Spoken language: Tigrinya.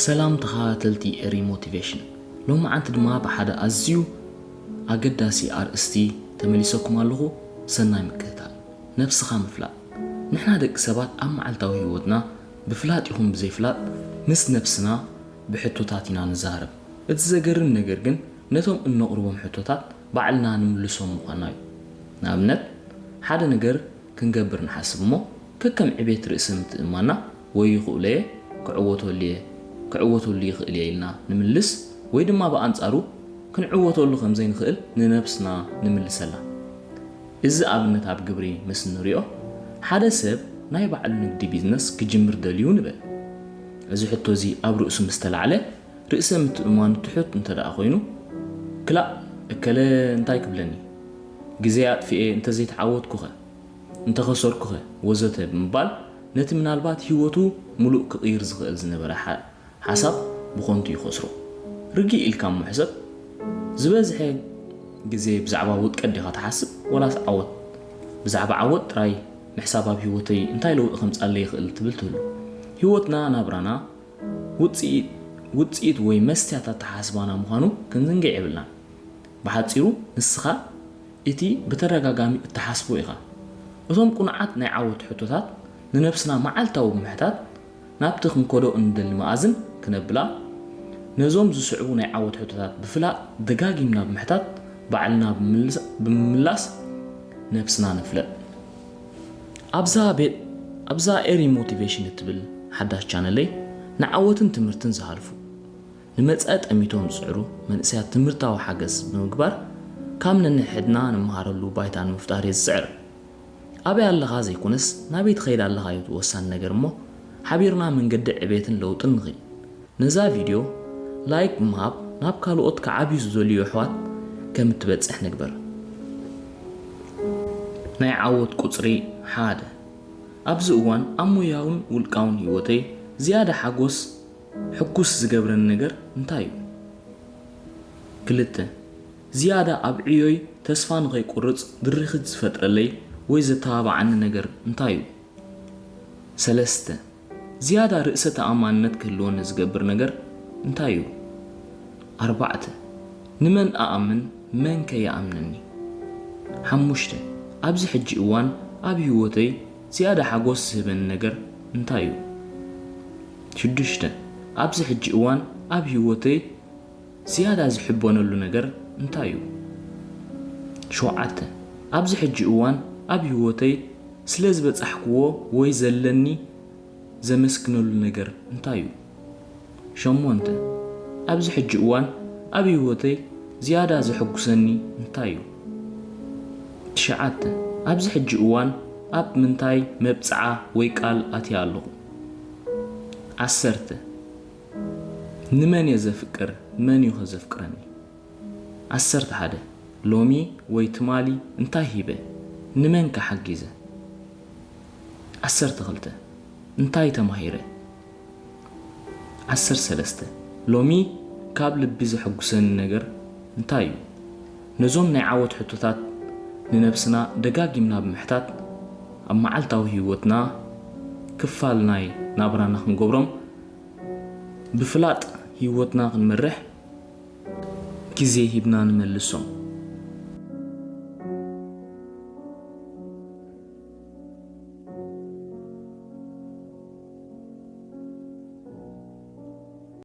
ሰላም ተኸታተልቲ ኤሪ ሞቲቬሽን ሎምዓንቲ ድማ ብሓደ ኣዝዩ ኣገዳሲ ኣርእስቲ ተመሊሰኩም ኣለኹ ሰናይ ምክትታል። ነብስኻ ምፍላጥ ንሕና ደቂ ሰባት ኣብ መዓልታዊ ሂወትና ብፍላጥ ይኹን ብዘይፍላጥ ምስ ነብስና ብሕቶታት ኢና ንዛረብ እቲ ዘገርም ነገር ግን ነቶም እነቕርቦም ሕቶታት ባዕልና ንምልሶም ምዃንና እዩ ንኣብነት ሓደ ነገር ክንገብር ንሓስብ እሞ ከከም ዕቤት ርእሰ ምትእምማንና ወይ ይኽእሎ'የ፣ ክዕወተሉ'የ፣ ክዕወተሉ ይኽእል'የ ኢልና ንምልስ ወይ ድማ ብኣንጻሩ ክንዕወተሉ ከም ዘይንኽእል ንነብስና ንምልሰላ። እዚ ኣብነት ኣብ ግብሪ ምስ እንሪኦ ሓደ ሰብ ናይ ባዕሉ ንግዲ፣ ቢዝነስ፣ ክጅምር ደልዩ ንበል። እዚ ሕቶ'ዚ ኣብ ርእሱ ምስ ተላዕለ፣ ርእሰ ምትእምማኑ ትሑት እንተደኣ ኮይኑ፣ ክላእ እከለ እንታይ ክብለኒ፣ ግዜይ ኣጥፊኤ እንተዘይተዓወትኩኸ? እንተኸሰርኩኸ? ወዘተ ብምባል ነቲ ምናልባት ህይወቱ ምሉእ ክቕይር ዝኽእል ዝነበረ ሓሳብ ብኸንቱ ይኸስሮ። ርግእ ኢልካ እሞ ሕሰብ፣ ዝበዝሐ ግዜ ብዛዕባ ውድቀት ዲኻ ትሓስብ ዋላስ ዓወት? ብዛዕባ ዓወት ጥራይ ምሕሳብ ኣብ ህይወተይ እንታይ ለውጢ ከምጻለይ ይኽእል ትብል ትህሉ። ህይወትና፣ ናብራና፣ ውጽኢት ውጽኢት ወይ መስትያት ኣተሓሳስባና ምዃኑ ክንዝንግዕ የብልናን። ብሓጺሩ ንስኻ እቲ ብተደጋጋሚ እትሓስቦ ኢኻ። እቶም ቅኑዓት ናይ ዓወት ሕቶታት ንነብስና መዓልታዊ ብምሕታት ናብቲ ክንከዶ እንደሊ መኣዝን ክነብላ ነዞም ዝስዕቡ ናይ ዓወት ሕቶታት ብፍላጥ ደጋጊምና ብምሕታት ባዕልና ብምምላስ ነብስና ንፍለጥ። ኣብዛ ቤት ኣብዛ ኤሪ ሞቲቬሽን እትብል ሓዳሽ ቻነለይ ንዓወትን ትምህርትን ዝሃልፉ ንመጻኢ ጠሚቶም ዝጽዕሩ መንእሰያት ትምህርታዊ ሓገዝ ብምግባር ካብ ነንሕድና ንመሃረሉ ባይታ ንምፍጣር እየ ዝጽዕር ኣበይ ኣለኻ ዘይኮነስ ናበይ ትኸይድ ኣለኻ'ዩ ወሳኒ ነገር እሞ ሓቢርና መንገዲ ዕቤትን ለውጥን ንኺድ ነዛ ቪድዮ ላይክ ብምሃብ ናብ ካልኦት ክዓብዩ ዝደልዩ ኣሕዋት ከም እትበጽሕ ንግበር። ናይ ዓወት ቁጽሪ ሓደ። ኣብዚ እዋን ኣብ ሞያውን ውልቃውን ህይወተይ ዝያዳ ሓጎስ፣ ሕጉስ፣ ዝገብረኒ ነገር እንታይ እዩ? ክልተ። ዝያዳ ኣብ ዕዮይ ተስፋ ንኸይቁርጽ ድርኺት ዝፈጥረለይ ወይ ዘተባብዓኒ ነገር እንታይ እዩ? ሰለስተ። ዝያዳ ርእሰ ተኣማንነት ክህልወኒ ዝገብር ነገር እንታይ እዩ? ኣርባዕተ፣ ንመን እኣምን መንከ ይኣምነኒ? ሓሙሽተ፣ ኣብዚ ሕጂ እዋን ኣብ ህይወተይ ዝያዳ ሓጐስ ዝህበኒ ነገር እንታይ እዩ? ሽዱሽተ፣ ኣብዚ ሕጂ እዋን ኣብ ህይወተይ። ዝያዳ ዝሕበነሉ ነገር እንታይ እዩ? ሸውዓተ። ኣብዚ ሕጂ እዋን ኣብ ህይወተይ ስለ ዝበጻሕክዎ ወይ ዘለኒ ዘመስግነሉ ነገር እንታይ እዩ? ሸሞንተ። ኣብዚ ሕጂ እዋን ኣብ ህይወተይ ዝያዳ ዘሐጉሰኒ እንታይ እዩ? ትሽዓተ። ኣብዚ ሕጂ እዋን ኣብ ምንታይ መብጽዓ ወይ ቃል ኣትየ ኣለኹ? ዓሰርተ። ንመን እየ ዘፍቅር? መን እዩኸ ዘፍቅረኒ? ዓሰርተ ሓደ፣ ሎሚ ወይ ትማሊ እንታይ ሂበ? ንመንከ ሓጊዘ? ዓሰርተ ክልተ፣ እንታይ ተማሂረ? ዓሰርተ ሰለስተ፣ ሎሚ ካብ ልቢ ዘሐጉሰኒ ነገር እንታይ እዩ? ነዞም ናይ ዓወት ሕቶታት ንነብስና ደጋጊምና ብምሕታት ኣብ መዓልታዊ ህይወትና ክፋል ናይ ናብራና ክንገብሮም ብፍላጥ ሂወትና ክንመርሕ ግዜ ሂብና ንመልሶም።